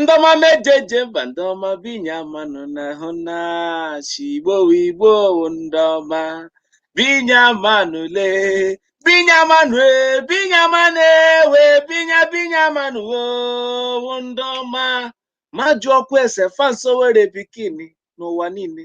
ndị ọma m eji eje mba ndị ọma binye amanụ na-ahụ na shi igbo wụ igbo wụ ndị ọma binye amanụ le binye amanụ e binye amanụ ewe binye binye amanụ wo wụ ndị ọma ma jụọkwa ese fanso were pikin n'ụwa niile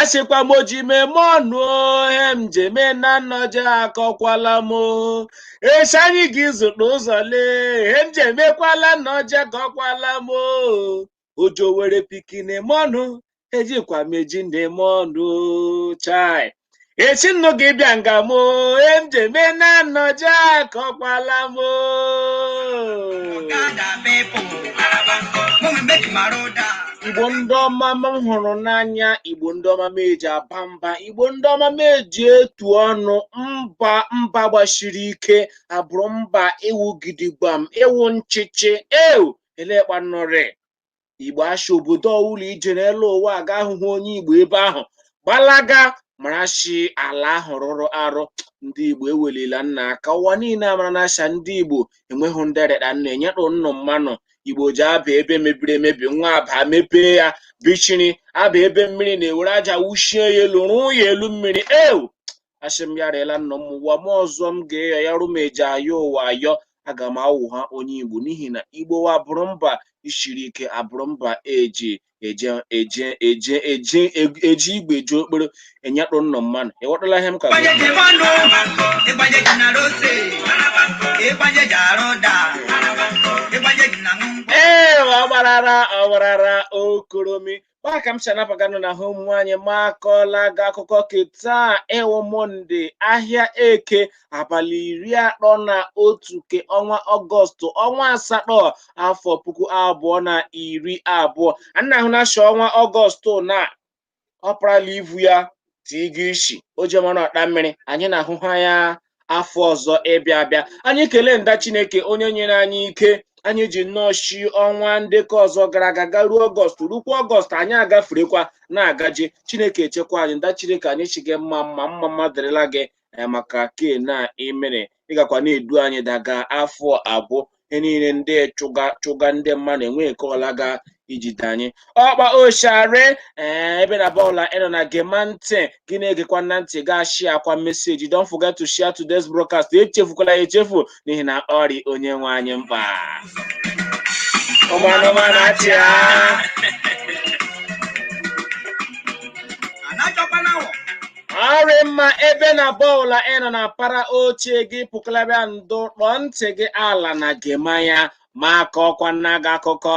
asịkwa m oji m eme ọnụ ihe m ji eme na nnọje akọkwala m o. echi anyị gị zụta ụzọ lee ihe m ji emekwala nnọje akọkwala m o. ojo were pikin eme ọnụ ejikwa m eji na-eme ọnụ chai echi nnụ ga-abịa nga m o ihe m ji eme na nnọje akọkwala m o igbo ndị ọma m hụrụ n'anya igbo ndị ọma m eji aba mba igbo ndị ọma m eji etu ọnụ mba mba gbasiri ike abụrụ mba ịwụ gidigbam ịwụ nchịchị ewu elekpanụrị igbo asha obodo ọ wụla i je n'elu ụwa aga ahụhụ onye igbo ebe ahụ gbalaga mara shi ala ahụ rụrụ arụ ndị igbo ewelila nna aka ụwa niile amara na asha ndị igbo enweghị ndị rịda nna enyetụ nnụ mmanụ igbo ji aba ebe mebiri emebi nwa aba mepee ya bichiri aba ebe mmiri na-ewere aja wuchie ya elu rụọ ya elu mmiri ewu asị m ya rịela nna m ụwa m ọzọ m ga-ayọ ya rụ m eji ayọ ụwa ayọ aga m awụ ha onye igbo n'ihi na igbo wa bụrụ mba isiri ike abụrụ mba eji eji igwe ji okporo enyetụ nnọ mmanụ ịghọtala ihe m ka ịgbanye ji mmanụ ịgbanye ji na rose ịgbanye ji arụ da ịgbanye ji na ngwa ee ọgbarara ọgbarara okoromi ma ka m si anabaganụ na hụ nwaanyị ma akọọla gị akụkọ ke taa wụ mọnde ahịa eke abalị iri atọ na otu ke ọnwa ọgọstụ ọnwa asatọ afọ puku abụọ na iri abụọ ana ahụ na shi ọnwa ọgọstụ na ọ parala ivu ya tigo isi o jemana ọkpa mmiri anyị na-ahụ ha ya afọ ọzọ ịbịa abịa anyị kelee nda chineke onye nyere anyị ike anyị ji nnọọ shi ọnwa nde ke ọzọ gara aga garuo ọgọst rukwa ọgọst anyị agaferekwa na-agaje chineke echekwa anyị nda chineke anyị shị gị mma mma mma mma dịrịla gị eh, maka ke na i mere ị gakwa na-edu anyị daga afọ abụọ ihe niile ndị chụga ndị mmadụ enweghị ke ọla ga ijide anyị ọkpa oshare ee ebe na bọọla ị nọ na gema ntị gị na-egekwa na ntị gị ashịakwa meseji don't forget to share today's broadcast echefukwala ya echefu n'ihi na ọ rị onye nwe anyị mkpa ụmụ anụmanụ achịa ọrị mma ebe ọ bụla ị nọ na para oche gị pụkalabịa ndụ kpọọ ntị gị ala na gema ya ma kọọkwa nna gị akụkọ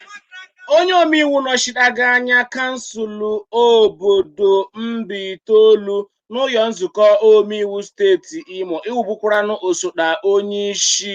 onye omeiwu nọchitega anya kansụl obodo Mbaitolu n'ụlọ nzukọ omeiwu steeti Imo ịwụbụkwaranụ osote onyeisi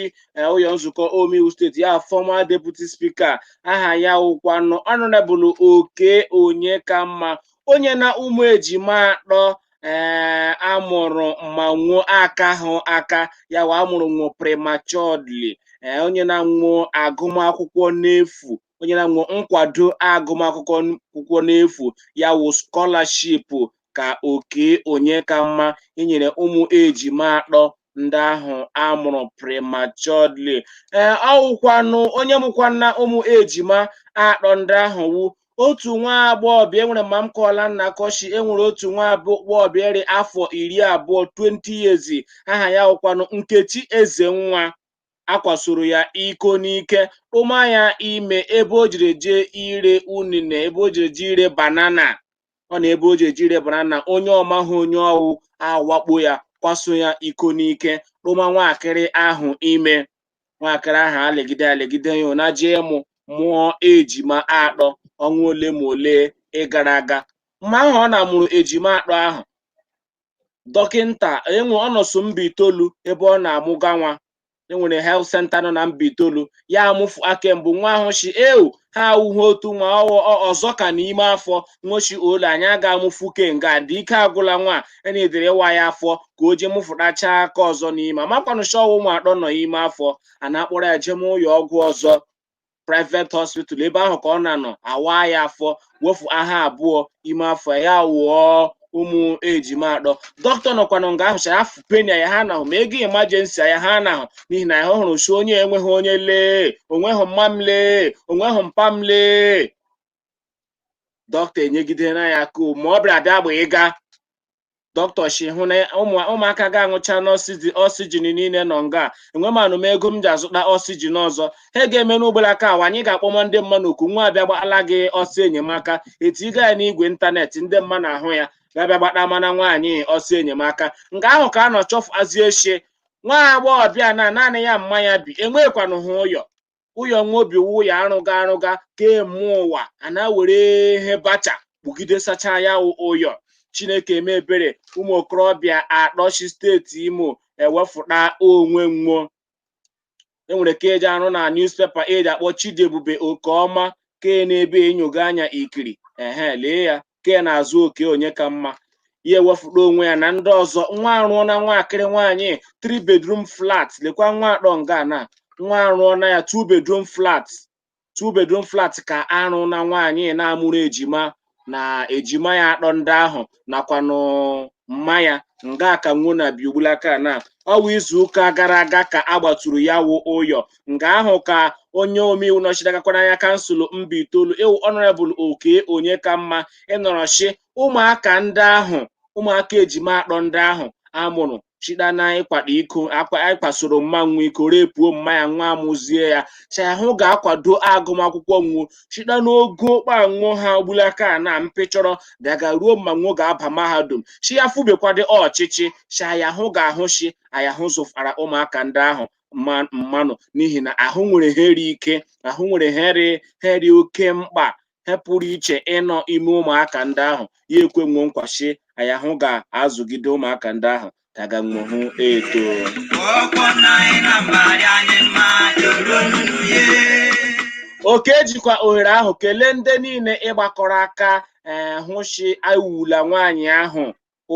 ụlọ nzukọ omeiwu steeti ya former deputy speaker aha ya wụkwanụ Honourable Okey Onyekanma o nyena ụmụ ejima atọ ee eh, a mụrụ ma nwọ akahụ aka ya wụ a mụrụ nwọ prematurely ee eh, o nyena nwọ agụmakwụkwọ n'efu o nyena nwọ nkwado agụmakwụkwọ n'efu ya wụ scholarship ka Okey Onyekanma inyere ụmụ ejima atọ ndị ahụ a mụrụ prematurely ee ọ wụkwanụ onye mụkwana ụmụ ejima atọ ndị ahụ wụ otu nwa agbọghọbịa enwere ma m kọọla nna kọshi enwere otu nwa agbọghọbịa rị afọ iri abụọ 20 years aha ya wụkwanụ Nkechi Ezenwa a kwasoro ya iko n'ike tụma ya ime ebe o jiri jee ire unine ebe o jiri jee ire banana ọ na ebe o ji jee ire banana onye ọ mahụ onye ọ wụ awakpo ya kwaso ya iko n'ike tụma nwaakịrị ahụ ime nwaakịrị ahụ alegide alegide ya na jee mụ mụọ ejima atọ ọnwa ole ma ole ịgara aga mgbe ahụ ọ na-amụrụ ejima atọ ahụ dọkịta ee ọ nọọsụ Mbaitolu ebe ọ na-amụga nwa enwere health center nọ na Mbaitolu ya amụfu aka mbụ nwọ ahụ shi eu ha awụghị otu nwa ọghọ- ọ- ọzọ ka nọ ime afọ nwọ shi ole anyị ga-amụfu kenga dị ike agwụla nwa enedere ịwa ya afọ ka o jee mụfụtacha aka ọzọ nọ ime amakwanụ shi ọ wụ ụmụ atọ nọ ime afọ a na-akpọrọ ya jeme ụyọ ọgwụ ọzọ private hospital ebe ahụ ka ọ na-anọ a waa ya afọ wefu aha abụọ ime afọ ya wụọ ụmụ ejima atọ dọkịta nọkwanụ nga ahụ shi afụ penny ya anahụ ma ego emergency ya anahụ n'ihi na ya hụrụ shi onye enweghị onye lee o nweghị mma m lee o nweghị mpa m lee dọkịta enyegide na ya aka ma ọ bịara bịa gba ịga dọkịta shi hụ na ụmụ- ụmụaka gị aṅụchana oxygen niile nọ nga enwemanụ m ego m ji azụta oxygen ọzọ ihe a ga-eme n'ugbolaka a wụ anyị ga-akpọma ndị mmanụ oku nwọ abịa gbala gị ọsọ enyemaka e tiga ya n'igwe ịntanetị ndị mmanụ ahụ ya ga-abịa gbata mana nwaanyị ọsọ enyemaka nga ahụ ka a nọ chọfụazie shi nwa agbọghọbịa na naanị ya mma ya bi enweghịkwanụ ha ụyọ ụyọ nwo bi wụ ụyọ arụga arụga kee mma ụwa a na-were ihe bacha kpugide sacha ya wụ ụyọ chineke eme ebere ụmụ okorobịa atọ shi steeti imo ewefụta onwe nwo e nwere ke eji arụ na newspaper eji akpọ chidiebube okeọma ke n'ebe enyoga anya ikiri ehe lee ya ke na-aza okey onyekanma ya ewefụta onwe ya na ndị ọzọ nwo arụọ na nwakịrị nwaanyị three bedroom flat lekwa nwo atọ nga na nwo arụọ na ya two bedroom flat two bedroom flat ka arụ na nwaanyị na-amụrụ ejima na ejima ya atọ ndị ahụ nakwanụ mma ya nga ka nwo na bi ugbulaka na ọwa izu ụka gara aga ka a gbaturu ya wụ ụyọ nga ahụ ka onye omeiwu nọchitegakwara anya kansụl mbaitoolu ịwụ ọnọrebụl okey onyekanma ịnọrọ shi ụmụaka ndị ahụ ụmụaka ejima atọ ndị ahụ amụrụ shita na ịkwado iko ịkwasoro mma nwo iko repuo mma ya nwa amụzie ya shi aya hụ ga-akwado agụmakwụkwọ nwo shita n'ogo kpa nwo ha ugbulaka na mpịchọrọ daga ruo mma nwo ga-aba mahadum shi ya fụbekwado ọchịchị shi aya hụ ga-ahụ shi aya hụ zụfara ụmụaka ndị ahụ mmanụ n'ihi na ahụ nwere he ri ike ahụ nwere he ri oke mkpa he pụrụ iche ịnọ ime ụmụaka ndị ahụ ya ekwe nwo nkwa shi aya hụ ga-azụgide ụmụaka ndị ahụ daga nwo hụ eto okey jikwa ohere ahụ kelee ndị niile ịgbakọrọ aka ee eh, hụ shi ewula nwaanyị ahụ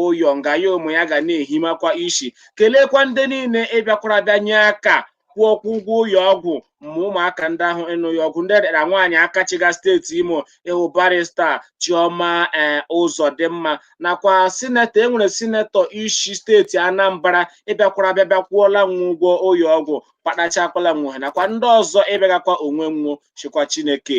ụyọ nga ya ụmụ ya ga na-ehimakwa ishi keleekwa ndị niile ịbịakwara bịa nye aka kwụọkwa ụgwọ ụyọ ọgwụ mma ụmụaka ndị ahụ ịnọ ụyọ ọgwụ ndị ra nwaanyị aka chịga steeti imo ịwụ barista chioma ee ụzọdịmma nakwa sinetọ e nwere sinetọ ishi steeti anambra ịbịakwara bịa bịa kwụọla nwo ụgwọ ụyọ ọgwụ patachakwala nwo he nakwa ndị ọzọ ịbịagakwa onwe nwo shikwa chineke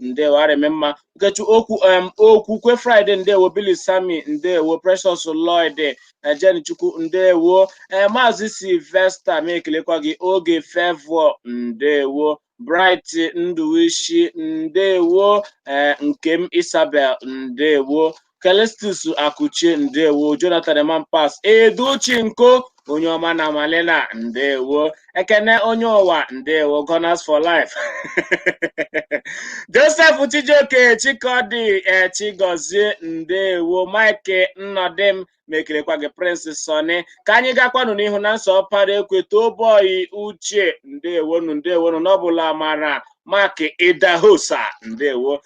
ndewo arịmị mma nkechukwu em okwukwe friday ndewo billy sammy ndewo precious lloyd jenny chukwu ndewo ee maazị sylvester m ekelekwa gị oge favour ndewo bright nduwishi ndewo ee nkem isabel ndewo Callistus Akuchie ndewo Jonathan Emampas Edochi Nko onye ọma na Malena ndewo Ekene onye ụwa ndewo Gunners for life Joseph Chijioke Chikodi eh, Chigozie ndewo Mike Nnodim m ekelekwa gị Prince Sonny ka anyị gakwanụ n'ihu Nonso Ọpara ekwe toboyi Uche ndewonu ndewonu Noble Amara Mark Idahosa ndewo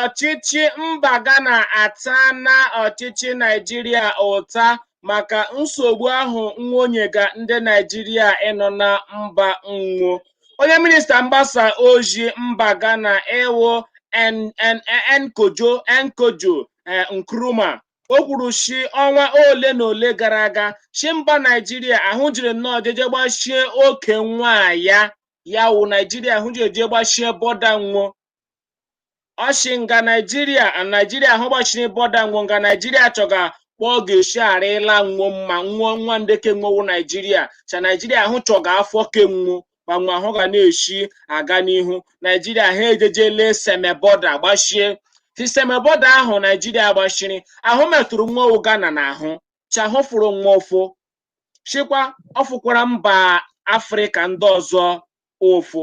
ọchịchị mba Ghana atana ọchịchị Naijiria ụta maka nsogbu ahụ nwo nyega ndị Naijiria ịnọ na mba nwo onye minista mgbasa ozi mba Ghana wụ Nkojo Nkojo eh, Nkrumah o kwuru shi ọnwa ole na ole gara aga shi mba naijiria ahụ jiri nnọọ jeje gbachie oke nwa ya ya wụ naijiria ahụ jiri jee gbachie bọda nwo ọ shi nga naijiria naijiria ahụ gbachiri bọda nwo nga naijiria chọga kpa ọ ga-eshi arịla nwo mma nwo nwa nde ke nwo wụ naijiria cha naijiria ahụ chọga afọ ke nwo kpa nwo ahụ ga na-eshi aga n'ihu naijiria ahụ ejejele seme bọda gbachie shi seme bọda ahụ naijiria gbachiri ahụ metụrụ nwo wụ ghana n'ahụ cha ahụ fụrụ nwo ụfụ shikwa ọ fụkwara mba afrịka ndị ọzọ ụfụ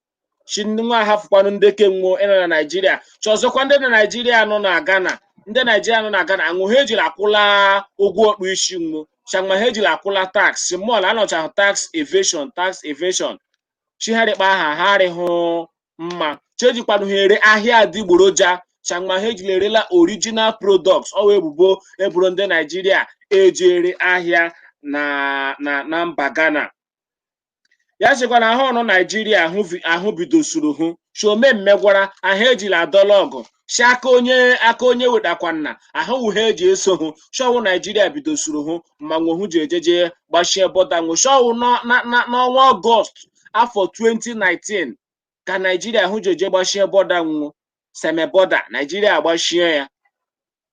shi ndị nwa ahafụkwanụ ndị ke nwo nọ na naijiria chọzọkwa ndị na naijiria nọ na ghana ndị naijiria nọ na ghana nwụ ha ejiri akwụla ụgwọ ọkpụ isi nwo changma ha ejiri akwụla tax mọl anọchahụ tax evasion tax evasion shi ha rị kpa aha ha arịhụ mma shi e jikwanụ ha ere ahịa adịgboroja changma ha ejiri erela original products ọ wa ebubo e boro ndị naijiria eji ere ahịa na na na mba ghana ya shikwa na ahụ nọ naijiria ahụ vi- ahụ bidosuru hụ shi o mee mmegwara ahụ ejila adọla ọgụ shi aka onye aka onye wetakwana ahụ wụ he e ji eso hụ shi ọ wụ naijiria bidosuru hụ ma nwo hụ ji ejeje gbachie bọda nwo shi ọ wụ n'ọ- na- na- n'ọnwa ọgọst afọ 2019 ka naijiria hụ ji eje gbachie bọda nwo seme bọda naijiria agbachie ya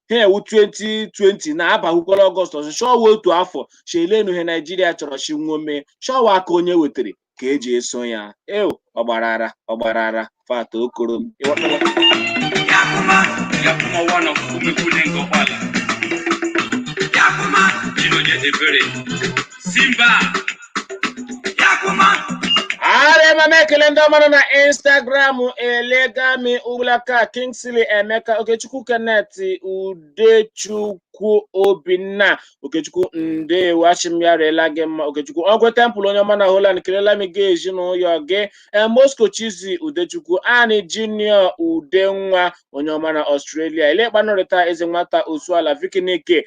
ha ewu 2020 na abahukwala ọgọst ọzọ shi ọ wa otu afọ shi elenu he naijiria chọrọ shi nwo mee shi ọ wa aka onye wetara ka e ji eso ya eo ọgbarara ọgbarara fata okoro m Alright mama ekele ndị ọma nọ na Instagram elega m ugbulaka Kingsley Emeka Okechukwu Kenneth Udechukwu Obinna Okechukwu ndewo a shi m ya rịla gị mma Okechukwu Ogwu Temple onye ọma na Holland kelela m gị ezinụlọ gị Eh, Moscow Chizi Udechukwu Ani Junior Udenwa onye ọma na Australia elekpanụrịta eze nwata Osuala Vikinike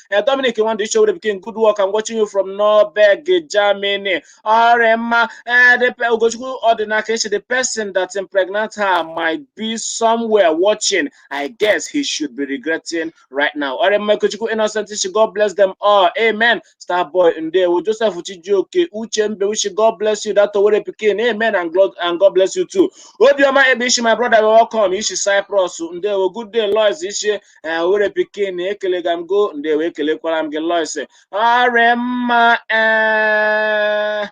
eh, Dominic Nwandụ Ichewere Bikin good work I'm watching you from Norberg Germany ọrị mma eh, the pe- Ugochukwu Ọdịnaka Echi the person that impregnate her might be somewhere watching I guess he should be regretting right now ọrị mma Ikechukwu Innocent Ichi God bless them all amen Starboy Ndewo Joseph Chijioke Uche Mbe Uchi God bless you that Owere Pikin amen and God, and God bless you too Obioma Ebishi my brother welcome Ishi Cyprus Ndewo good day Lois Ishi ee owerri pikin ekelega m go ndewo ekelekwara m gị lois ọ rị mma ee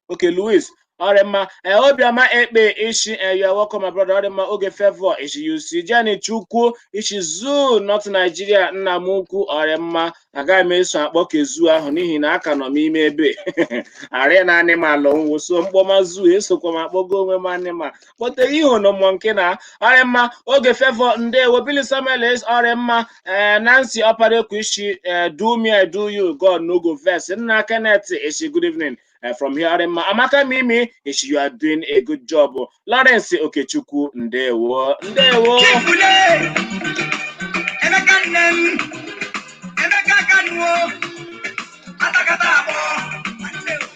okay louis ọ rị mma ee obiọma ekpe i shi ee you are welcome my brother ọ rị mma oge favor i shi UC jenny chukwu i shi zoo north nigeria nna m ukwu ọ rị mma agaghị m eso akpọ ke zoo ahụ n'ihi na aka nọ m ime ebe a rị na anịmalụ nwo so m kpọma zoo esokwa m akpọgo onwe m anịma kpọtere ihe ọnụmụ nke na ọ rị mma Oge Favour ndewo Billy Samuels ọ rị mma ee nancy Ọparaekwe ị shi ee do me i do you god no go vex nna kenneth ị shi good evening eh, from here ọ rị mma amaka mimi ị shi you are doing a good job lawrence okechukwu ndewo ndewo Chifule, Emeka nne m, Emeka Kanuo, Atakata abụọ,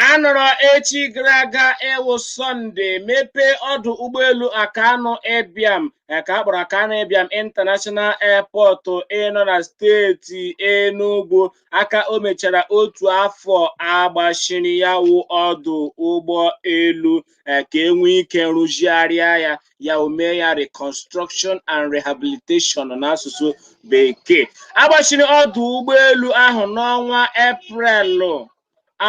A nọrọ echi gara aga ịwụ Sọnde mepee ọdụ ụgbọelu Akanu Ibiam eh, ka a kpọrọ Akanu Ibiam International Airport ịnọ na steeti Enugu aka o mechara otu afọ a gbachiri ya wụ ọdụ ụgbọ elu eh, ka e nwee ike rụzigharịa ya ya wụ mee ya reconstruction and rehabilitation n'asụsụ bekee a gbachiri ọdụ ụgbọelu ahụ n'ọnwa eprelụ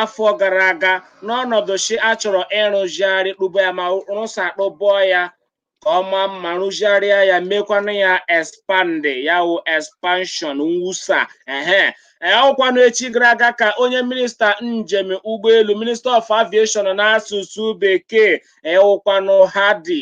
afọ gara aga n'ọnọdụ si a chọrọ ịrụzigharị kpụba ya ma rụsa kpụbọ ya ka ọ maa mma rụzigharịa ya mekwanụ ya expand ya wụ expansion mwusa ehe ee ọ wụkwanụ echi gara aga ka onye minista njem ụgbọelu minista of aviation n'asụsụ bekee ịwụkwanụ Hadi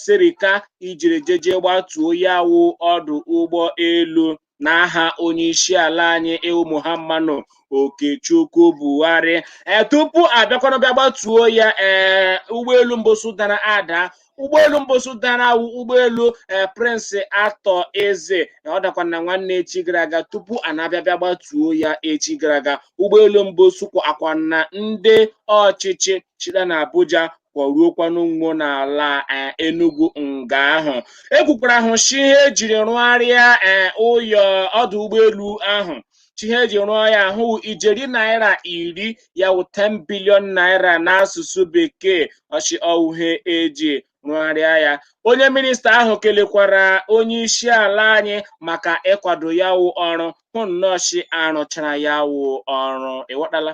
Sirika ijiri jeje gbatuo ya wụ ọdụ ụgbọ elu n'aha onye isi ala anyị ịwụ muhammadu okechukwu buhari ee tupu a bịakwanụ bịa gbatuo ya ee ụgbọelu mbụsụ dara ada ụgbọelu mbụsụ dara wụ ụgbọelu ee Prince Arthur Eze ọ dakwa na nwanne echi gara aga tupu a na-abịa bịa gbatuo ya echi gara aga ụgbọelu mbụsụ kwọkwanụ ndị ọchịchị shida na abuja kwọruokwanụ nwo n'ala eh, enugu nga ahụ e kwukwara ahụ shi ihe e jiri rụgharịa eh, ụyọ ọdụ ụgbọelu ahụ shi ihe e ji rụọ ya wụ ijeri naira iri ya wụ 10 bilion naira n'asụsụ bekee ọ shi ọ wụ ihe e ji rụgharịa ya onye minista ahụ kelekwara onye isi ala anyị maka ịkwado ya wụ ọrụ hụ nnọọ shi a rụchara ya wụ ọrụ ịghọtala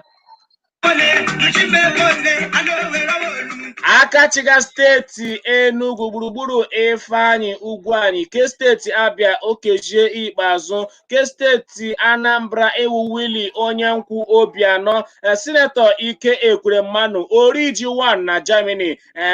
aka chịga steeti Enugu gburugburu Ifeanyi Ugwuanyi nke steeti Abia Okezie Ikpeazụ nke steeti Anambra ịwụ Willie onye nkwụ Obianọ sinetọ Ike Ekweremanu Oriji Wan na Germany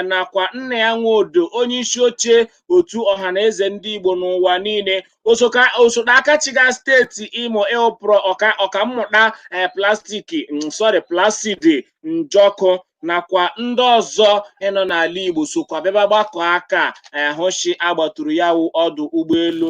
nakwa Nnia Nwodo onye isi oche otu ọhaneze ndị Igbo n'ụwa niile osoka osote aka chịga steeti Imo ịwụ prọ ọka ọkammụta eh, plastik mm, sorry Placid njọkụ nakwa ndị ọzọ ịnọ n'ala Igbo sokwa bịaba gbakọ aka eh, hụ shi a gbaturu ya wụ ọdụ ụgbọelu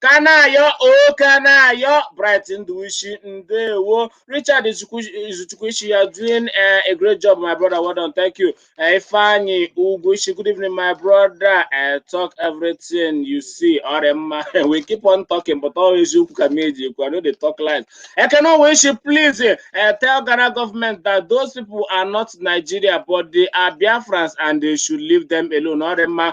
kanayo o kanayo bright ndụwisi ndewo richard izuchukwu ị shị you are doing uh, a great job my brother well done thank you uh, ifeanyi ugwu ị shị good evening my brother uh, talk everything you see ọ rị mma we keep on talking but ọ eziokwu ka m eji ekwu i no dey talk lies ekene owe ị shị please uh, tell ghana government that those people are not nigeria but they are biafrans and they should leave them alone ọ rị mma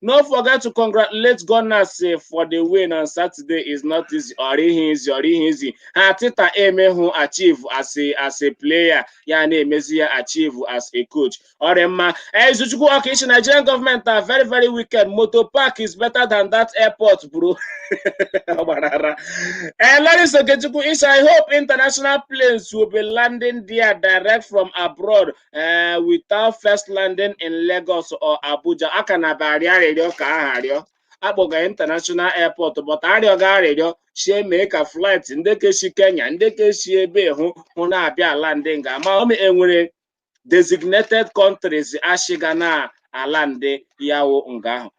No forget to congratulate Gunners eh, for the win on Saturday is not easy ọ rịhị easy ọ rịhị easy. Ihe Arteta emehụ achieve as a, as a player ya na-emezi ya achieve as a coach. Ọ dị mma. Izuchukwu Ọka ị shị Nigerian government are very very wicked. Motor park is better than that airport bro. Ọ gbara ara. Eh, Lawrence Okechukwu ị shị, I hope international planes will be landing there direct from abroad ee without first landing in Lagos or Abuja a ka na-aba arịọ arịrịọ ka aha arịọ akpọga international airport but arịọga arịrịọ shị e mee ka flight ndị ke shi Kenya ndị ke shi ebe hụ hụ na-abịa alandị nga ma ọ ma enwere designated countries e shiga na-alandị ya wụ nga ahụ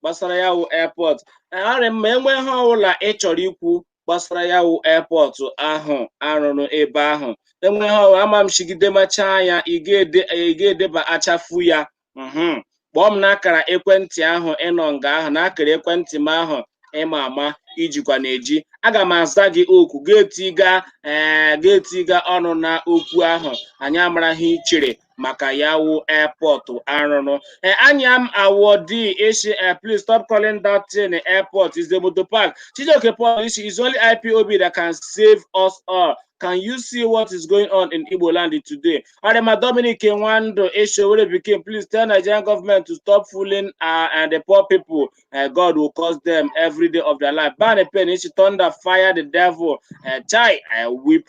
gbasara ya wụ airport ọ rị mma enwe ihe ọbụla ị chọrọ ikwu gbasara ya wụ airport ahụ arụrụ ebe ahụ enwe ihe ọbụla ama m chigide machaa ya ị ga-ede- ị ga-edebachafu ya mhm. kpọọ m n'akara ekwentị ahụ ịnọ nga ahụ n'akara ekwentị m ahụ ịma ama ijikwa na-eji aga m aza gị oku ga-etiga ee ga-etiga ọnụ na okwu ahụ anyị amara ihe i chere maka ya wụ airport arụrụ ee anya m awọ di isi eh, please stop calling that thing eh, airport is the motor park chijioke paul isi is only ipob that can save us all can you see what is going on in igbo land today arema dominic nwando eshowere pikin please tell nigerian government to stop fooling uh, and the poor people uh, god will cause them every day of their life ban a pen ishi thunder fire the devil uh, chai i weep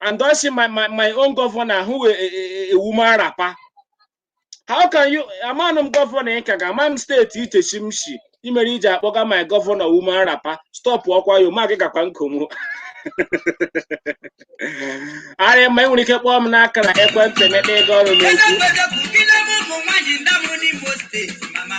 and I see my, my, my own governor wụ a, a, a woman wrapper. How can you amana m gọvanọ ị ka ga ama m steeti i shi m si ihe mere iji akpọga my gọvanọ woman wrapper stopụkwa ya o ma gị gakwa nkomo ọ rị mma ị nwere ike kpọọ m n'akara ekwentị mekpa ego ọnụ n'okwu Ebe mgbede bụ gị na ụmụ nwaanyị ndamụ n'Imo steeti mama.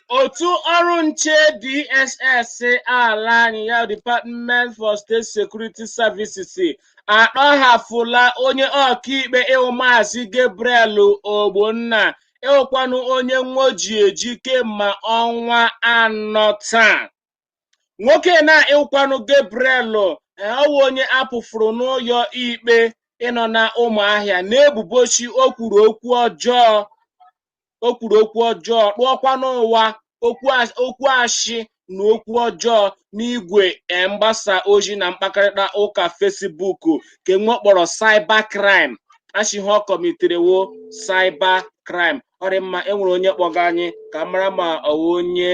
otu ọrụ nche DSS ala anyị ya Department for State Security Services atọhafụla onye ọkaikpe ịwụ maazị Gabriel Ogbonna ịwụkwanụ onye nwo ji eji kemgbe ọnwa anọ taa nwoke na ịwụkwanụ Gabriel ọwụ onye akpụfuru n'ụlọ ikpe ịnọ na ụmụahịa n'ebubo shị o kwuru okwu ọjọọ o kwuru okwu ọjọọ kpụọkwa n'ụwa okwu as- okwu ashị na okwu ọjọọ n'igwe eh, mgbasa ozi na mkpakọrịta ụka Facebook nke nwo kpọrọ cyber crime a shị ọ kọmiterewo cyber crime ọ dị mma enwere onye kpọga anyị ka mara ma ọwụ onye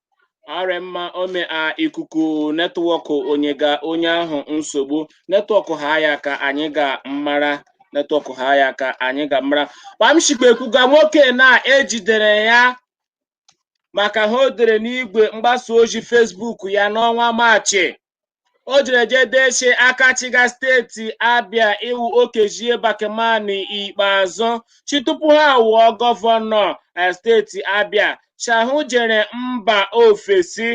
arị mma ome a ikuku netwọkụ enyega onye ahụ nsogbu netwọkụ ha ya ka anyị ga mmara netwọkụ ha ya ka anyị ga mmara kpa m shi kpa ekwuga nwoke na ejidere ya maka ha o dere n'igwe mgbasa ozi Facebook ya n'ọnwa maachị o jere jee dee si aka chịga steeti abịa ịwụ Okezie bakemani Ikpeazụ si tupu ha awụọ gọvanọ eh, steeti abịa si ahụ jere mba ofesi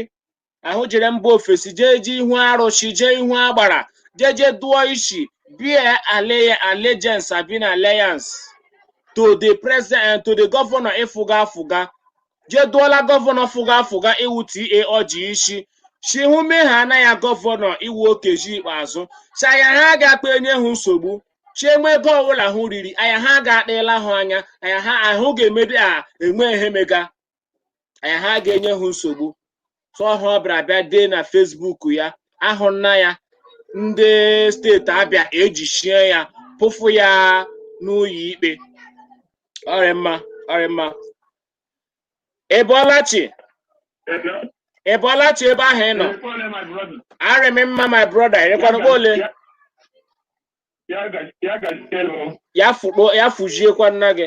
ahụ jere mba ofesi jee jee ihu arụsị jee ihu agbara jee jee dụọ isi bie ale- allegiance abi na alliance to the president to the governor ịfụga afụga jee dụọla gọvanọ fụga afụga ịwụ TA Orji isi si hụ mee ha na ya gọvanọ ịwụ Okezie Ikpeazụ si anya ha ga-akpa enye ha nsogbu si e nwee ego ọbụla hụ riri anya ha ga-akpịla hụ anya anya ha ahụ ga-emedi a e nwee ihe mega anya ha ga-enye ha nsogbu so ọhụ ọ bịara bịa dee na Facebook ya ahụ nna ya ndị steeti abịa ejichie ya kpụfụ ya n'ụlọ ikpe ọ rị mma ọ rị mma ị bọọla chi ị bọọla chi ebe ahụ ị nọ arị m mma my brother ịrịkwana kpa ole ya fụkpo ya fụjiekwa nna gị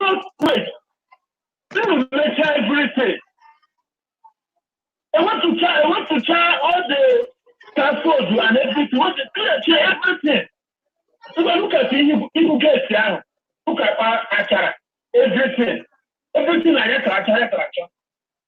First place, unu mecha everything. Ewepụcha ewepụcha all the scaffold and everything, wepụ clearcha everything. Ngwa look at ihu geti ahụ, look at kpa achara everything. Everything na ya tara acha ya tara acha.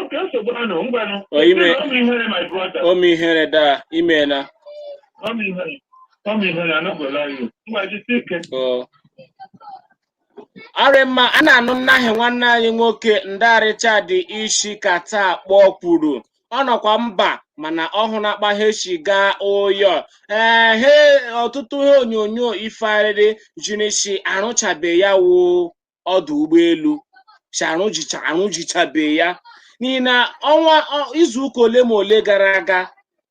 okay nsogbu anọ ngwanụ Ọ ime- Ị na-eme ihere my brother o mee ihere daa imeela ọ ma ihere ọ ma ihere I no go lie you ngwa jisi ike o arị mma a na-anụ nnaahị nwanne anyị nwoke nda Richard isi Qatar kpọọ kwuru ọ nọkwa mba mana ọ hụna kpa he si gaa ụyọ ee he ọtụtụ ihe onyonyo ifearịrị ziri si arụchabe ya wụ ọdụ ụgbọelu si arụzicha arụzichabe ya n'ihi na ọnwa ọ- izu ụka ole ma ole gara aga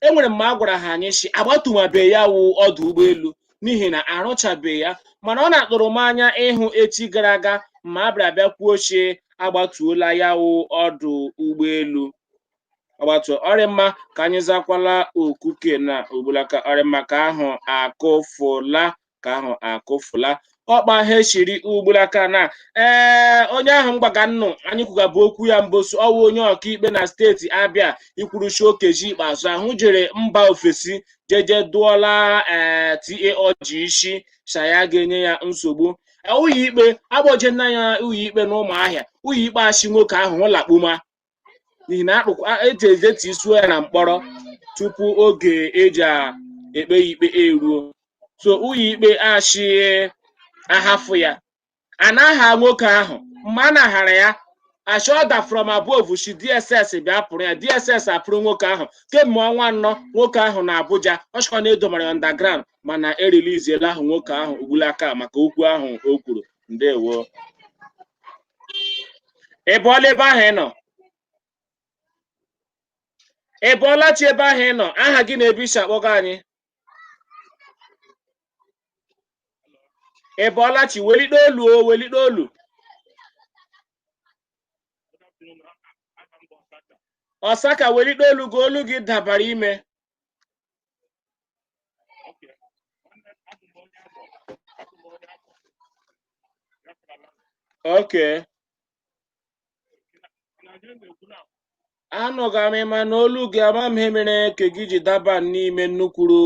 enwere mma a gwara ha anyị si agbatumabe ya wụ ọdụ ụgbọelu n'ihi na arụchabe ya mana ọ na-atụrụ m anya ịhụ echi gara aga ma a bịara bịa kwuo si agbatuola ya wụ ọdụ ụgbọelu agbatu ọ rị mma ka anyị zakwala oku ke na ogbulaka ọ rị mma ke ahụ akụfụla ka ahụ akụfula ọkpa ha echiri ugbulaka na ee onye ahụ m gwaga nnụ anyị kwugabụ okwu ya mbọsị ọ wụ onye ọkaikpe na steeti abịa ikwuru shi Okezie Ikpeazụ ahụ jere mba ofesi jeje dụọla ee TA Ọjị isi sha ya ga-enye ya nsogbu ụlọikpe akpọje nna ya ụlọikpe na ụmụahịa ụlọikpe ashị nwoke ahụ hụ lakpuma n'ihi na akpụkwa eji ejetu isuo ya na mkpọrọ tupu oge eji a- ekpe ya ikpe eruo so ụlọ ikpe ashị a hafụ ya a na-aha nwoke ahụ mgbe a na-ahara ya ashị order from above shi dss bịa kpụrụ ya dss akpụrụ nwoke ahụ kemgbe ọnwa anọ nwoke ahụ nọ abuja ọ shịkwa na e domara ya underground mana eriliziela ahụ nwoke ahụ ugbulaka maka okwu ahụ o kwuru ndewo ị bọọla ebe ahụ ị nọ ị bọọla chi ebe ahụ ị nọ aha gị na ebe i si akpọga anyị ị bọọla chi welite olu o welite olu ọsaka welite olu gị olu gị dabara ime Okay. Anụga m gị mana olu gị ama m ihe mere ke gị ji daba n'ime nnukwuru.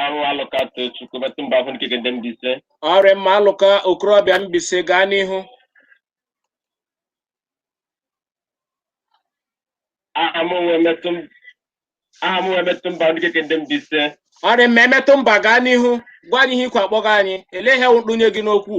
arụ alụka tochukwu metụ mba ahụ nkeke ndị mbaise ọ rị mma alụka okorobịa mbaise gaa n'ihu aha m onwe metụ m- aha m onwe metụ mba ahụ nkeke ndị mbaise ọ rị mma emetụ mba gaa n'ihu gwa anyị ihe ikwe akpọga anyị elee ihe wụ ntụnye gị n'okwu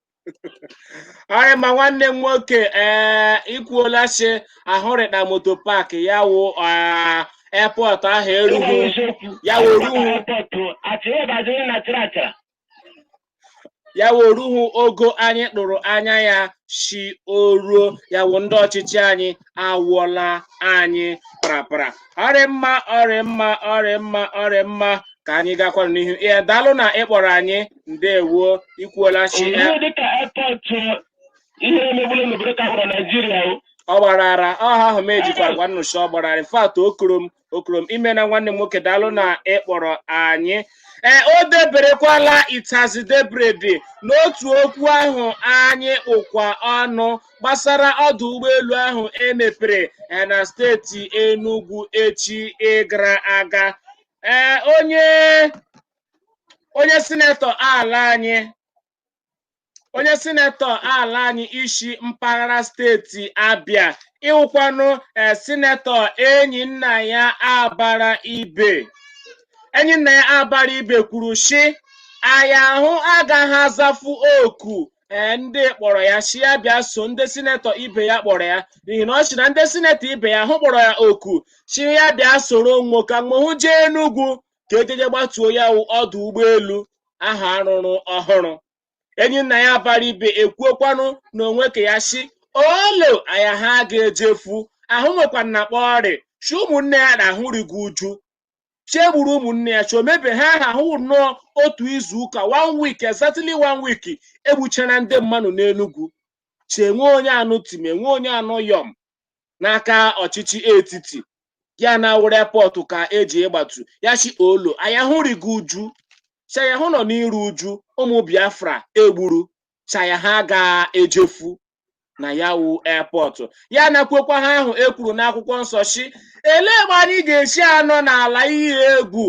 ọ rị mma nwanne m nwoke ee i kwuola sị ahụ rị ka motor park ya wụ airport ahụ erughị ya wụ o ruhu ogo anyị tụrụ anya ya sị o ruo ya wụ ndị ọchịchị anyị awụọla anyị parapara ọrị mma ọrị mma ọrị mma ọrị mma ka anyị gakwara n'ihu ee daalụ na ịkpọrọ anyị ndewo ikwuola chi e, Ihe dịka airport ihe emegbula n'obodo ka gwara Naijiria o. ọ gbara ara ọha ahụ m ejikwa gwa nnụcha ọ gbara ara in fact o koro m okoro m imena nwanne m nwoke daalụ na ị kpọrọ anyị ee o deberekwala itazi debredi n'otu okwu ahụ anyị kpụkwa ọnụ gbasara ọdụ ụgbọelu ahụ e mepere eh, na steeti Enugu echi gara aga ee onye onye sinetọ ala anyị onye sinetọ ala anyị isi mpaghara steeti abịa ịwụkwanụ ee sinetọ Enyinnaya Abaribe Enyinnaya Abaribe kwuru sị aya ahụ agaghị azafu oku ee ndị kpọrọ ya sị ya bịa so ndị sinetọ ibe ya kpọrọ ya n'ihi na ọ sị na ndị sinetọ ibe ya ahụ kpọrọ ya oku sị ya bịa soro nwoke mgbe hụ jee Enugu ka e jeje gbatuo ya wụ ọdụ ụgbọelu ahụ a rụrụ ọhụrụ Enyinnaya Abaribe ekwuokwanụ na onwe ke ya sị olo aya ha ga-ejefu ahụ nwekwa na kpọ ọrị chi ụmụnne ya na ahụ rigo uju chi e gburu ụmụnne ya chi o mebe ha aha ahụ nnọọ otu izu ụka one week exactly one week e gbuchara ndị mmadụ n'enugwu chi e nwe onye a nụ tim e nwe onye a nụ yọm n'aka ọchịchị etiti ya na-awụrụ airport ka e je ịgbatu ya sị olo ayahụ rigo uju sayahụ nọ n'iru uju ụmụ Biafra e gburu saya ha ga-ejefu na ya wụ airport ya ana kwuokwa ha ahụ e kwuru n'akwụkwọ nsọ sị elee mgbe anyị ga-esi anọ n'ala ihe egwu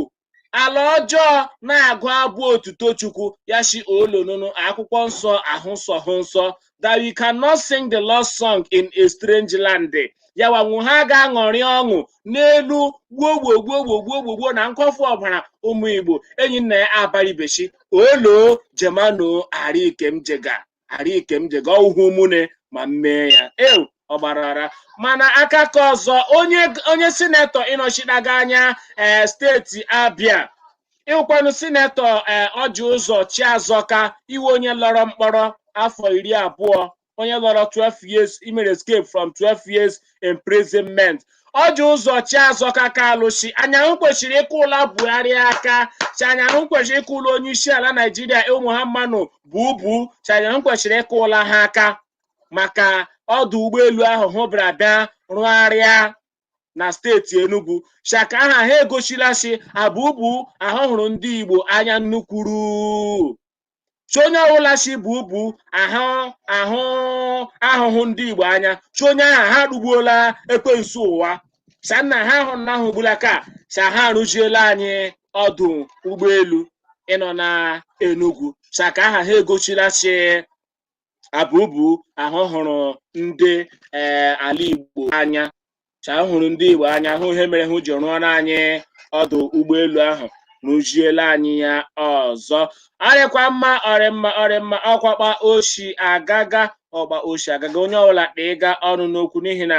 ala ọjọọ na-agụ abụ otuto Chukwu ya shi olo nụnụ akwụkwọ nsọ ahụ nsọ hụ nsọ that we cannot sing the Lord's song in a strange land yawa nwu ha ga-aṅụrị ọṅụ n'elu gbuo gbuo gbuo gbuo gbuo gbuo gbuo na nkọfu ọbara ụmụ Igbo Enyinnaya Abaribe chi olo jemano ara ike m jega ara ike m jega ọhụhụ mune ma m mee ya eu ọ gbara ara mana aka ka ọzọ onye onye sinetọ ịnọchitaga anya ee steeti abịa ịwụkwanụ sinetọ ee Ọjị Ụzọ Chiazọka iwe onye lọrọ mkpọrọ afọ iri abụọ onye lọrọ 12 years imere escape from 12 years imprisonment Ọjị Ụzọ Chiazọka Kalụ sị anyị ahụ kwesịrị ịkụla Buhari aka sị anyị ahụ kwesịrị ịkụla onye isi ala naijiria Muhammadu Bubu sị anyị ahụ kwesịrị ịkụla ha aka maka ọdụ ụgbọelu ahụ hụ bịara bịa rụgharịa na steeti enugu shaka aha ha egosila sị a Bubu ahụ hụrụ ndị igbo anya nnukwuru chi onye ọbụla sị Bubu ahụ ahụhụ ndị igbo anya chi onye aha ha rugbuola ekwensu ụwa sa nna ha ahụ na ahụ gbula ka sa ha arụziela anyị ọdụ ụgbọelu ịnọ na enugwu sa ka aha ha egosila sị a Bubu ahụ hụrụ ndị ee ala Igbo anya ka ahụ hụrụ ndị Igbo anya hụ ihe mere hụ ji rụọrọ anyị ọdụ ụgbọelu ahụ rụziela anyị ya ọzọ ọ rịkwa mma ọ rị mma ọ rị mma ọ kwa kpa o shi agaga ọ kpa o shi agaga onye ọbụla kpịga ọnụ n'okwu n'ihi na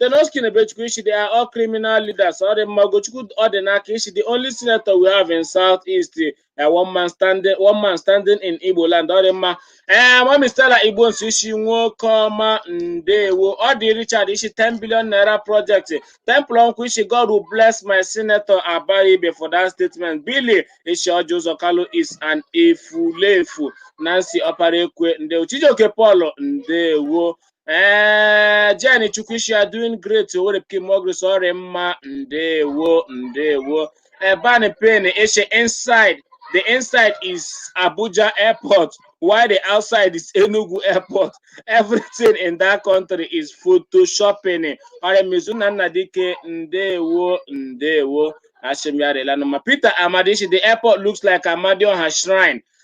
Tenoski Nebechukwu ị shi they are all criminal leaders ọ rị mma Ogochukwu Ọdịnaka ị shi the only senator we have in South East uh, one man standing one man standing in Igbo land ọ rị mma ee mami Stella Igbo nso ị shi nwoke ọma ndewo Ọdị Richard ị shi 10 billion naira project Temple Ọnkwụ ị shi God will bless my senator Abaribe for that statement Billy ị shi Orji Uzor Kalu is an efulefu Nancy Ọparaekwe ndewo Chijioke Paul ndewo ee Jane Chukwuishi are doing great Owerri Pikin more grace ọrị mma ndewo ndewo Eban Pen Eshe inside the inside is Abuja airport while the outside is Enugu airport everything in that country is photoshopping ọrịa mezu na nna dike ndewo ndewo Ashimyarelanuma. Peter Amadishi, the airport looks like Amadioha Shrine.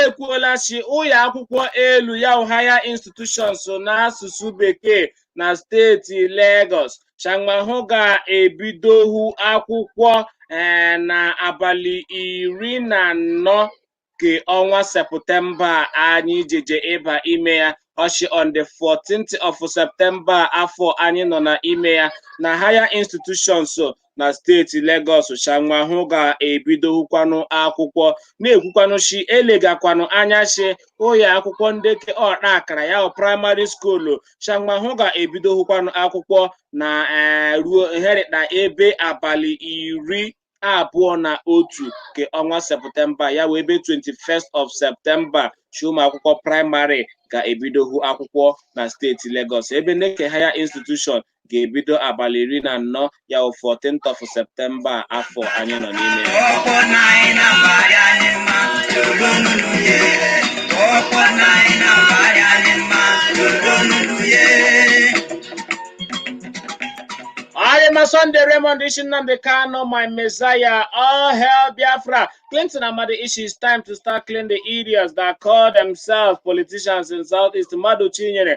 ekwuola shi ụyọ akwụkwọ elu ya wụ higher institutions n'asụsụ bekee na steeti Lagos shi hanwa hụ ga-ebidohu akwụkwọ ee eh, na abalị iri na anọ nke ọnwa sepụtemba anyị jeje ịba ime ya ọ shi on the 14th of septemba afọ anyị nọ na ime ya na higher institutions na steeti Legọs shi hanwa hụ ga-ebidohukwanụ akwụkwọ na-ekwukwanụ shi elegakwanụ anya shi ụyọ akwụkwọ ndị ke ọta akara ya wụ praịmarị skuulu shi hanwa hụ ga-ebidohukwanụ akwụkwọ na eh, ruo herịta ebe abalị iri abụọ na otu nke ọnwa septemba ya wụ ebe 21st of septemba shi ụmụ akwụkwọ praịmarị ga-ebidohu akwụkwọ na steeti Legọs ebe ndị ke Higher Institution ga-ebido abalị iri na anọ ya wụ 14th of Septemba afọ anyị nọ n'ime ya ọ rị mma Sunday Raymond ị shi Nnamdi Kanu, my messiah. All hail Biafra. Clinton Amadi ị shi, it's time to start cleaning the idiots that call themselves politicians in Southeast. Madu Chinyere,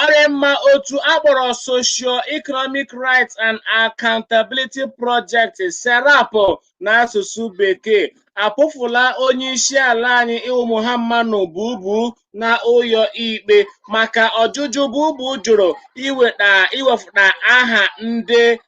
ọ rị mma otu akpọrọ socio-economic rights and accountability project serap n'asụsụ bekee akpụfụla onye isi ala anyị wụ Muhammadu Bubu na ụyọ ikpe maka ọjụjụ bubu jụrụ iweta iwefụta aha ndị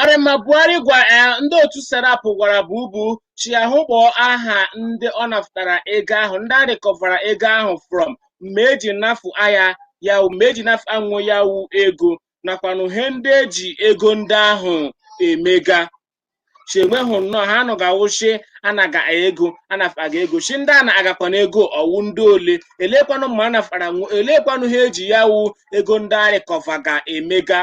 Ọ rị mma Buhari gwa eh, ndị otu Serap gwara Bubu shi ya hụ kpọọ aha ndị ọ nafụtara ego ahụ ndị a rịkọvara ego ahụ from mgbe eji nafụ aya ya wụ- mgbe eji nafụ nwo ya wụ ego nakwanụ ihe ndị eji ego ndị ahụ emega shi enweghị nnọọ ha nọ ga-awụ shi anaga ego anafaga ego shi ndị a nagakwanụ ego ọ wụ ndị ole elekwanụ mma anafara nwo elekwanụ he eji ya wụ ego ndị a rịkọvaga emega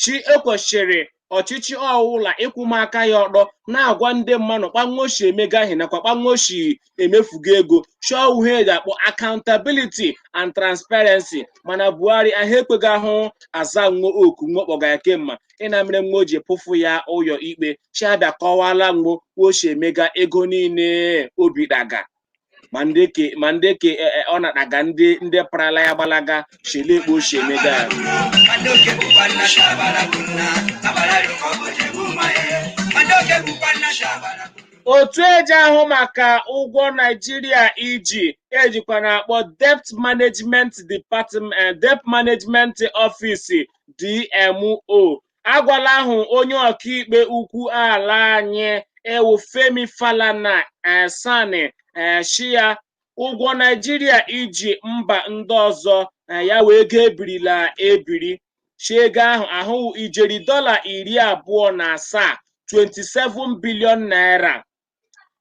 shi ekwesịrị ọchịchị ọ wụla ịkwụma aka ya ọtọ na-agwa ndị mmanụ kpa nwo shi emega ihe nakwa kpa nwo shi emefuga ego chọọ uhe eji akpọ accountability and transparency mana buhari ahụ ekweghị ahụ aza nwo oku nwo kpọga ya kemma ịna mere nwo ji pụfụ ya ụyọ ikpe shi ya bịa kọwala nwo kpa o shi emega ego niile o bitaga ma ndị ke ọ nataga ndị parala ya gbalaga shi lee kpa o shi emega ya Otu eji ahụ maka ụgwọ Naijiria iji ejikwa akpọ Debt Management Office DMO agwala ahụ onye ọkaikpe ukwu ala anyị wụ Femi Falana eh, SAN eh, shi ya ụgwọ naijiria iji mba ndị ọzọ na ya wee ego ebirila ebiri si ego ahụ ahụwụ ijeri dọla iri abụọ na asaa 27 bilion naira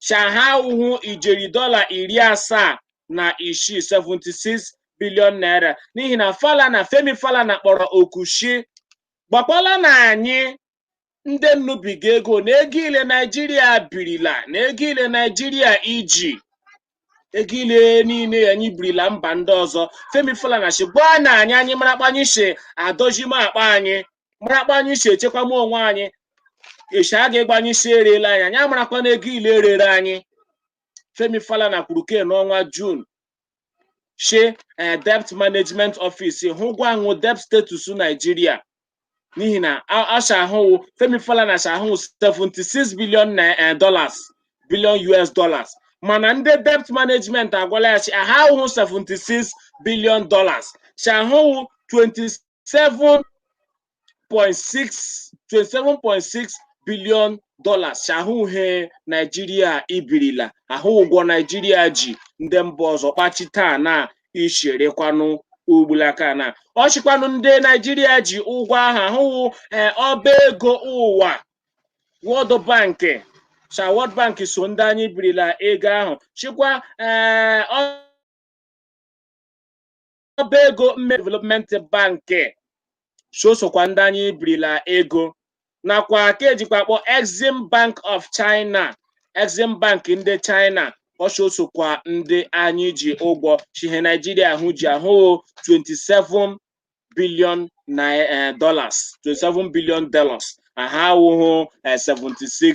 shi aha awụhụ ijeri dọla iri asaa na isii 76 bilion naira n'ihi na falana femi falana kpọrọ oku shi gbakwala na anyị ndị nnu biga ego na ego ile naijiria birila na ego ile naijiria iji ego ile niile anyị birila mba ndị ọzọ femi falana si gwa na anyị anyị mara kpa anyị si adozima akpa anyị mara kpa anyị si echekwama onwe anyị echi a ga-agwa anyị si erela anyị anyị amarakwa na ego ile e rere anyị femi falana kwuru ke n'ọnwa jun shi debt management office hụ gwa nwụ debt status Nigeria n'ihi na asha ahụwụ Femi Falana sha ahụwụ 76 billion dollars billion US dollars mana ndị debt management agwala ya shi aha awụhụ 76 billion dollars shi ahụwụ 27 27.6 billion dollars ahụ he Naijiria ibirila ahụ ụgwọ Naijiria ji ndị mba ọzọ kpachi taa na icherekwanụ ugbulaka na o shikwanụ ndị Naijiria ji ụgwọ ahụ ahụwụ ee ọba ego ụwa World Bank sha World Bank so ndị anyị birila ego ahụ shikwa ee ọ ọba ego mme development bank so sokwa ndị anyị birila ego nakwa ke ejikwa akpọ exim bank of china exim bank ndị china o so sokwa ndị anyị ji ụgwọ shi he naijiria ahụ ji ahụ 27 billion na eh, dollars 27 billion dollars aha awụhụ eh, 76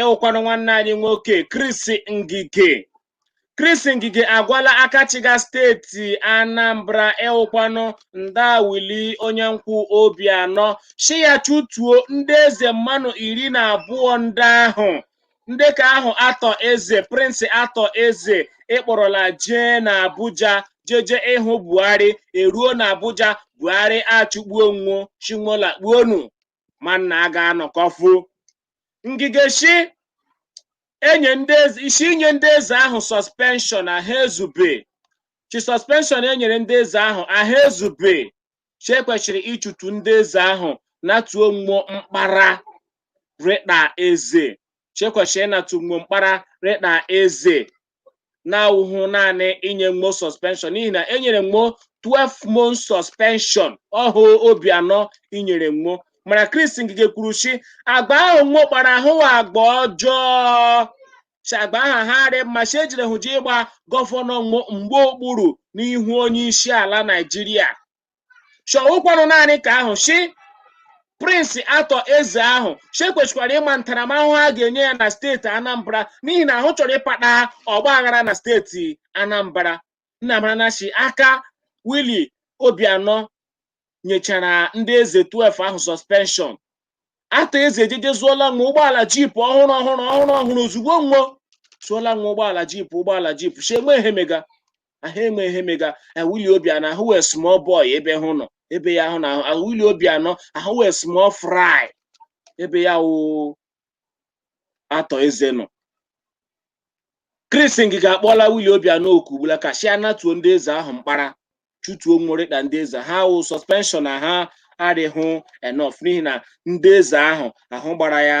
ịwụkwanụ nwanne anyị nwoke Chris Ngige Chris Ngige agwala aka chịga steeti Anambra ịwụkwanụ nda Willie onye nkwụ Obiano shi ya chụtuo ndị eze mmanụ iri na abụọ ndị ahụ ndị ka ahụ Arthur Eze Prince Arthur Eze ịkpọrọla jee na Abuja jeje ịhụ Buhari eruo na Abuja Buhari achụgbuo nwo shi mo lakpuo nu ma nna a ga-anọkọfu Ngige shi enye ndị eze isi inye ndị eze ahụ suspension aha ezube shi suspension e nyere ndị eze ahụ aha ezube shi ekwesịrị ịchụtu ndị eze ahụ natuo mmo mkpara rị ka eze shi ekwesịrị ịnatu mmo mkpara rị ka eze na-awụhụ naanị inye mmo suspension n'ihi na enyere mmo 12 month suspension ọhụ Obiano inyere mmo mana Chris Ngige kwuru si agba ahụ mmo kpara ahụ agba ọjọọ si agba ahụ ha rị mma si ejere hụ ji ịgba gọvanọ mmo mgba okpuru n'ihu onye isi ala Naijiria shi ọ wụkwanụ naanị ka ahụ shi Prince Arthur Eze ahụ shi kwesịkwara ịma ntaramahụhụ a ga-enye ya na steeti anambra n'ihi na ahụ chọrọ ịkpata ọgba aghara na steeti anambra nna mara na shi aka Willie Obiano nyechara ndị eze 12 ahụ suspension Arthur Eze ejeje zụọla nwo ụgbọala jeep ọhụrụ ọhụrụ ọhụrụ ọhụrụ ozugbo nwo zụọla nwo ụgbọala jeep ụgbọala jeep si enwe ihe mega aha enwe ihe mega a Willie Obiano ahụ wee small boy ebe hụ nọ ebe ya ahụ na ahụ a Willie Obiano ahụ wee small fry ebe ya wụ Arthur Eze nọ Chris Ngige akpọọla Willie Obiano oku ugbula ka shi anatuo ndị eze ahụ mkpara chụtuo nwo rị ka ndị eze ha wụ suspension ha arịhụ enough n'ihi na ndị eze ahụ ahụ gbara ya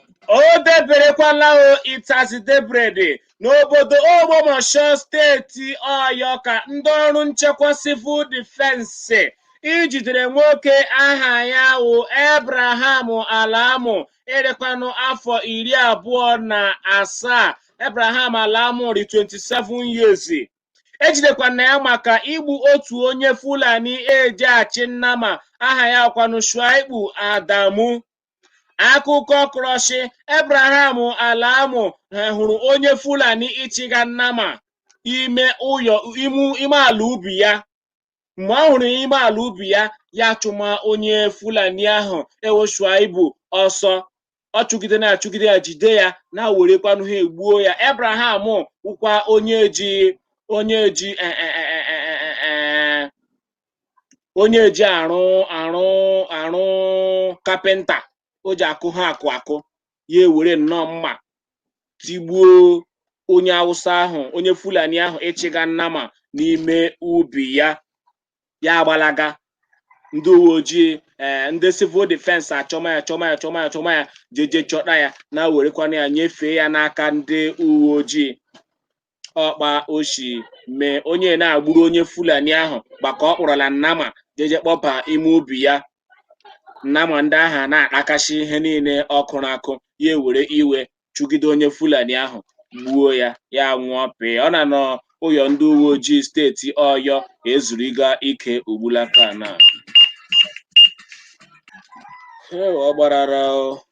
O deberekwala o it has debered n'obodo Ogbomọshọ steeti Ọyọ ka ndị ọrụ nchekwa civil defence ijidere nwoke aha ya wụ Abraham Alamu ịrịkwanụ afọ iri abụọ na asaa Abraham Alamu rị 27 years ejidekwana ya maka igbu otu onye Fulani eji achị nnama aha ya wụkwanụ Shuaibu Adamu akụkọ kọrọ shi Abraham Alamu hụrụ onye fulani ịchịga nnama ime ụyọ ime ala ubi ya mgbe ọ hụrụ ime ala ubi ya ya chụma onye fulani ahụ ịwụ Shuaibu ọsọ ọ chụgide na achụgide ya jide ya na werekwanụ ha egbuo ya Abraham wụkwa onye ji onye ji onye eji arụ arụ arụ kapịnta o ji akụ ha akụ akụ ya ewere nnọọ mma tigbuo onye awụsa ahụ onye fulani ahụ ịchịga nnama n'ime ubi ya ya agbalaga ndị uwe ojii ee ndị civil defense achọma ya chọma ya chọma ya chọma ya jeje chọta ya na werekwana ya nyefee ya n'aka ndị uwe ojii ọ kpa o shi mee onye na a gburu onye fulani ahụ gbaka ọ kpọrọla nnama jeje kpọba ime ubi ya nnama ndị ahụ a na-atakasị ihe niile ọ kụrụ akụ ya ewere iwe chụgide onye fulani ahụ gbuo ya ya anwụọ pịị ọ nọ n'ụyọ ndị uwe ojii steeti ọyọ ezuriga ike ugbulaka na ọ gbarara o.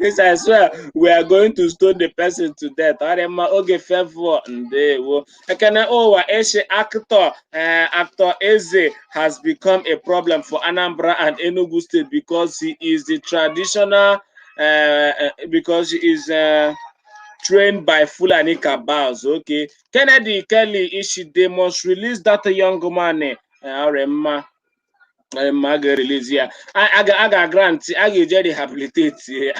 yes, I swear we are going to stone the person to death. Ọ dị mma oge fevọ ndewo. Ekene ụwa eshi actor eh, actor Eze has become a problem for Anambra and Enugu State because he is the traditional eh, eh, because he is eh, trained by Fulani cabals. Okay, Kennedy Kelly Ishide must release that young man. Eh, ọ dị mma. Ee, ma a ga-erelizi ya a a ga- a ga-agrantị a ga-eje rehabiliteti ya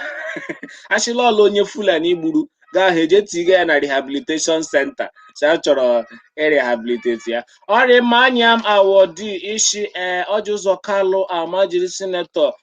a shị la ọ la onye fulani gburu gaa ha eje tiga ya na rehabilitation center sị a chọrọ irehabiliteti ya ọ rị mma anyịam awọdi ị sị ee ọjị ụzọ kalụ amajiri sinetọ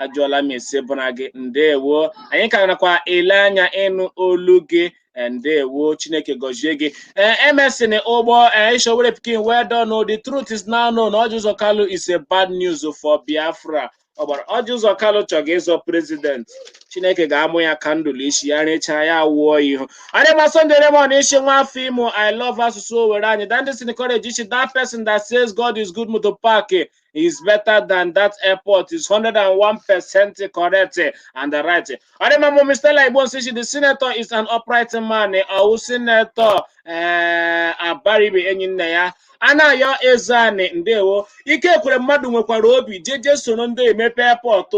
ajụọla m ese bụra gị ndewo anyị ka nakwa ele anya ịnụ olu gị eh, ndewo chineke gọzie gị Eh, emerson ụgbọ eh, ị shị owere pikin well done o, the truth is now known ọjị ụzọ kalụ is a bad news for biafra ọ gbara ọjị ụzọ kalụ chọga ịzọ prezident chineke ga-amụ ya kandụlụ isi ya rechaa ya wụọ ihu a dị mma sunday raymond ị sị nwa afọ imo i love asụsụ owere anyị dandison courage ị sị that person that says god is good motor park is better than that airport is 101% correct and the right ọ dị mma mụ Mr. Laigbo Nsisi the senator is an upright man ọ wụ senator ee abaribe enyinnaya anayọ ezeanị ndewo ike ekweremadu nwekwara obi jeje soro ndị emepe airport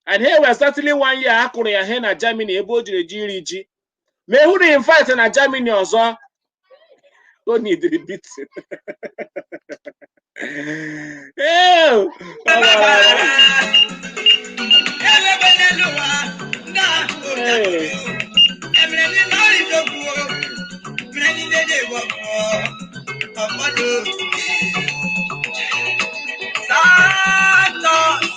and he was exactly one year a kụrụ ya he na Germany ebe o jere je iri ji ma ehụrụ in fact na Germany ọzọ ọ needịrị beating Ew! Thank you.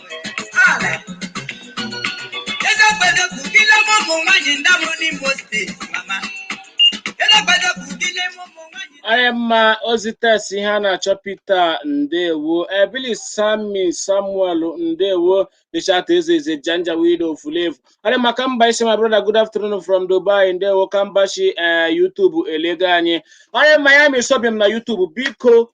a rị mma ozi test ihe a na-achọ Peter ndewo ebili sami samuel ndewo richard ezeze janja wido fulevu a rị mma kambashi my brother good afternoon from dubai ndewo kambashi ee eh, youtube elega anyị a rị mma miami sobim na youtube biko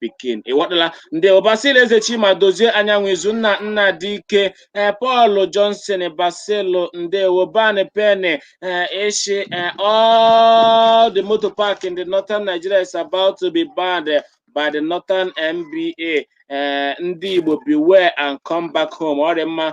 pikin ịghọtala ndewo Basil Eze Chima Dozie Anyanwụ Izunna Nnadike ee Paul Johnson Basil ndewo ban peni ee ị shị ee all the motor park in the northern Nigeria is about to be banned by the northern MBA ee ndị Igbo beware and come back home ọ rị mma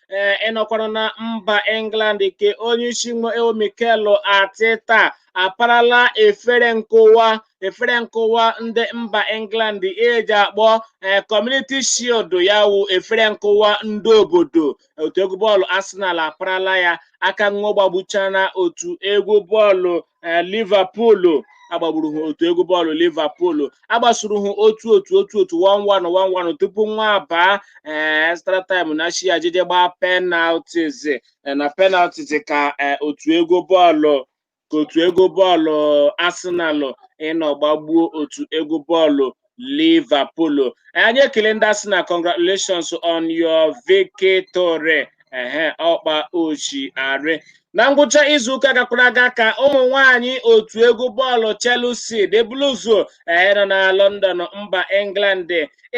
ee ịnọkwara na mba england ke onye isi nwa wụ mikel arteta aparala efere nkụwa efere nkụwa ndị mba england eji akpọ ee community shield ya wụ efere nkụwa ndị obodo otu egwu bọọlụ arsenal aparala ya aka nwa gbagbuchana otu egwu bọọlụ ee Liverpool agbagburu ha otu egwu bọọlụ Liverpool agbasuru ha otu otu otu otu one one one one tupu nwa abaa ee extra time na shi ajije gbaa penalties ee, na penalties ka ee, otu egwu bọọlụ ka otu egwu bọọlụ Arsenal ịnọ gbagbuo otu egwu bọọlụ Liverpool anyị ekele ndị Arsenal congratulations on your victory ehe ọ kpa o shi arị na ngwụcha izuụka gakwara aga ka ụmụ nwanyị otu egwu bọọlụ Chelsea the Blues ee nọ na London mba England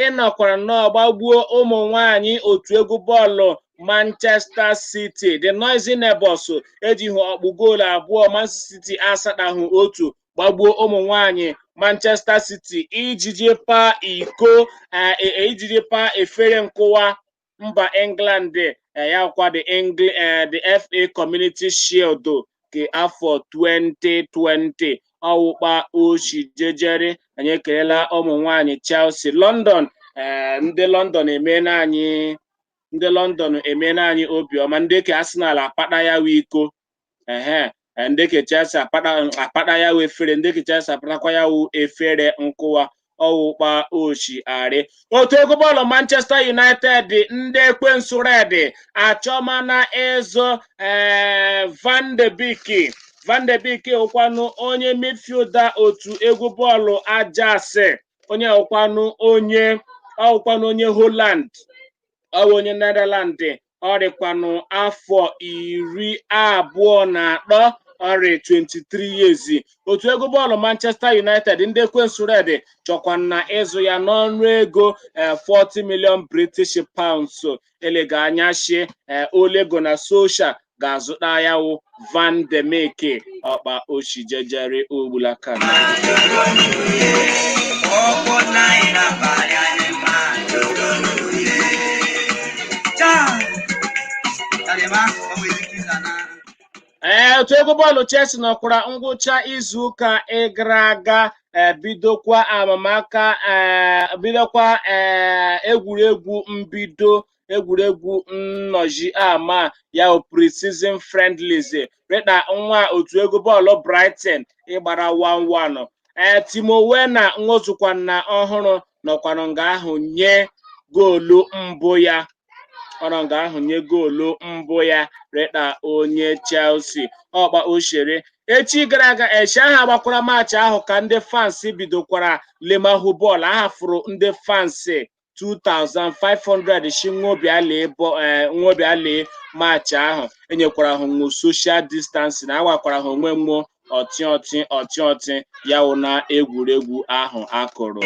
ịnọkwara nnọọ gbagbuo ụmụ nwanyị otu egwu bọọlụ Manchester City the noisy neighbors eji ha ọkpụ goolu abụọ Man City asatahụ otu gbagbuo ụmụ nwanyị Manchester City ijiji paa iko ijiji paa efere nkụwa mba England ya kwa the Engl the FA Community Shield ke afọ 2020 ọ wụ kpa o shi jejere anyị ekelela ụmụ nwanyị Chelsea London ndị London emeela anyị ndị London emeela anyị obiọma ndị ke Arsenal akpata ya wụ iko ehe e, ndị ke chelsea akpata akpata ya wụ efere ndị ke chelsea akpatakwa ya wụ efere nkụwa ọ wụ kpa o shi arị otu egwu bọọlụ manchester united ndị ekwensu red achọmana ịzụ ee van de beek van de beek wụkwanụ onye midfielder otu egwu bọọlụ ajax onye wụkwanụ onye ọwụkwanụ onye holland ọ wụ onye netherland ọ rịkwanụ afọ iri abụọ na atọ ọ rị 23 years otu egwu bọọlụ Manchester United ndị ekwensu red chọkwana ịzụ ya n'ọnụ ego 40 eh, million British pounds elega anya shi eh, Ole Gunnar Solskjaer ga-azụta ya wụ Van de Beek ọ kpa o shi jejere ugbula aka ee otu egwu bọọlụ Chelsea nọkwara ngwụcha izuụka ịgara aga bidokwa amamaka ee bidokwa ee egwuregwu mbido egwuregwu nnọchi ama ya pre-season friendlies rịda nwa otu egwu bọọlụ Brighton ịgbara 1-1 ee Timo Werner nwo zụkwana ọhụrụ nọkwanụ nga ahụ nye goolu mbụ ya ọ nọ nga ahụ nye goolu mbụ ya rịda onye Chelsea ọkpa ochere echi gara aga echi aha a gbakwara maachị ahụ ka ndị fans bidokwara lemahụ bọọlụ a hafụrụ ndị fans 2500 shi nwo bịa lee bụ ee nwo bịa lee maachị ahụ enyekwara ha nwo social distancing agwakwara ha onwe nwo ọtị ọtị ọtị ọtị ya wụ na egwuregwu ahụ akụrụ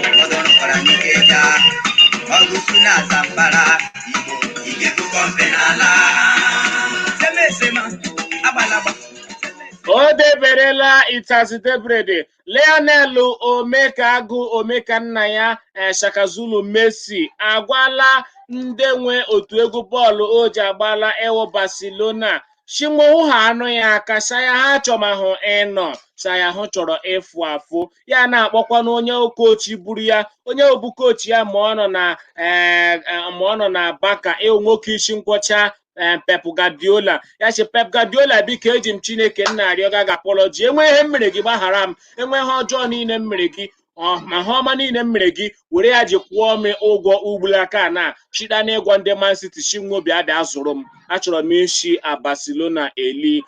o deberela itazi debrede Lionel Omekagu Omekannaya eh, Shaka Zulu Messi agwala ndị nwe otu egwu bọọlụ o ji agbala ịwụ Barcelona shi nwo hụ haanụ ya aka sa ya ha chọmahụ ịnọ sa ya hụ chọrọ ịfụ afụ ya na-akpọkwa na onye koochi buru ya onye bu koochi ya ma ọ nọ na eh, eh, ma ọ nọ na Barca ịwụ nwoke isi nkwọcha eh, Pep Guardiola ya sị Pep Guardiola biko eji m Chineke nna arịọ gị apology enwe ihe m mere gị gbaghara m enwe ihe ọjọọ niile m mere gị ọ- ma ha ọma niile m mere gị were ya ji kwụọ m ụgwọ ugbula aka na chida n'ịgwa ndị Man City si nwo bịa bịa zụrụ m achọrọ m isi a Barcelona eli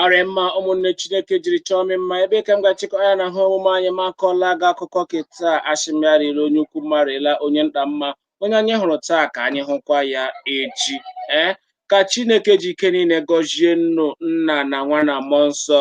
ọ rị mma ụmụnne chineke jiri chọọ m mma ebe ka m ga-achịkọ ya na ha omume anyị ma akọọla gị akụkọ ke taa a shị m ya rịla onye ukwu mma rịla onye nta mma onye anyị hụrụ taa ka anyị hụkwa ya echi ee ka chineke ji ike niile gọzie nnụ nna na nwa na mmụọ nsọ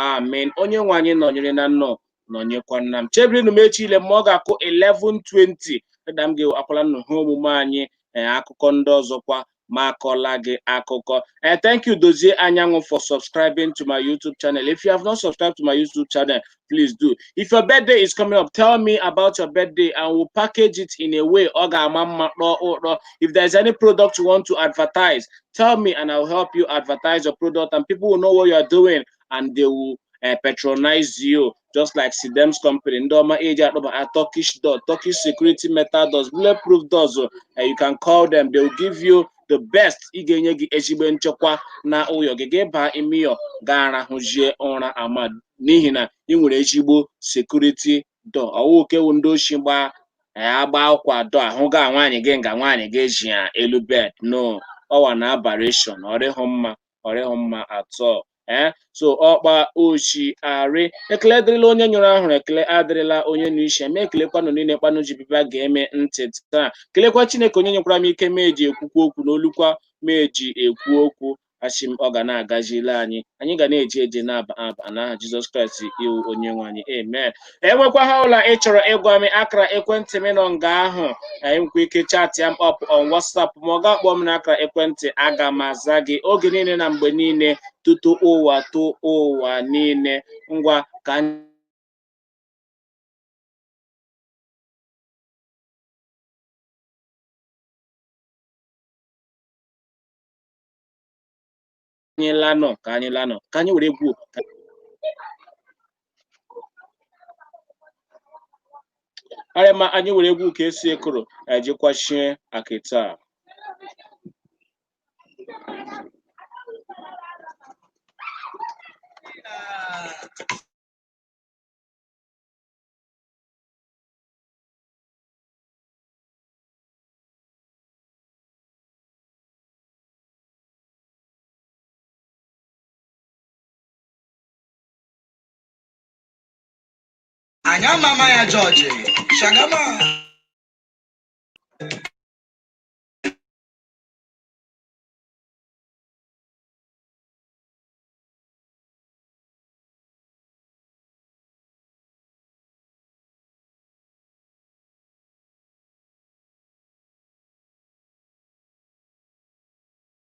amen onye nwe anyị nọnyere na nnụ nọnyekwana m chebirinụ m echi ile ma ọ ga-akụ 11:20 dịda m ga-akwala nnụ ha omume anyị ee akụkọ ndị ọzọkwa ma akọla gị akụkọ ee thank you dozie anyanwụ for subscribing to my youtube channel if you have not subscribed to my youtube channel please do if your birthday is coming up tell me about your birthday and we'll package it in a way ọ ga-ama mma kpọọ ụrọ if there's any product you want to advertise tell me and i'll help you advertise your product and people will know what you're doing and they will uh, patronize you just like Sidem's company. Ndị ọma ji akpọbaa Turkish door, Turkish security metal doors, bulletproof doors. Uh, you can call them. They will give you the best ị ga-enye gị ezigbo nchekwa na ụyọ gị gị baa ime ụyọ gaa rahụzie ụra ọma n'ihi na ị nwere ezigbo security door ọ wụ ke wụ ndị oshi gbaa ya gbawakwa door ahụ gaa nwaanyị gị nga nwaanyị gị ji ya elu bed no ọ wụ an aberration ọ rịhụ mma ọ rịhụ mma at all ee so ọ kpa o shi arị ekele dịrịla onye nyụrụ ahụrụ ekele adịrịla onye nụ ishi e m ekelekwa ụnụ niile kpa ụnụ ji bịa bịa gee m ntị taa kelekwa chineke onye nyekwara m ike m eji ekwukwa okwu na olukwa m eji ekwu okwu ashị m ọ ga na-agazile anyị anyị ga na-eje eje na-aba aba n'aha jizọs kraịst ị wụ onye nwe anyị amen e nwekwa ihe ọbụla ị chọrọ ịgwa m akara ekwentị m nọ nga ahụ i nwekwa ike chatịa m up on WhatsApp ma ọ gị akpọọ m n'akara ekwentị aga m aza gị oge niile na mgbe niile tutu ụwatụwa niile ngwa ka anyị anyị lanụ ka anyị lanụ ka anyị were egwu ka arịa ma anyị were egwu ka esi ekoro ejikwachie akịta a. anyị amama ya jọji shagama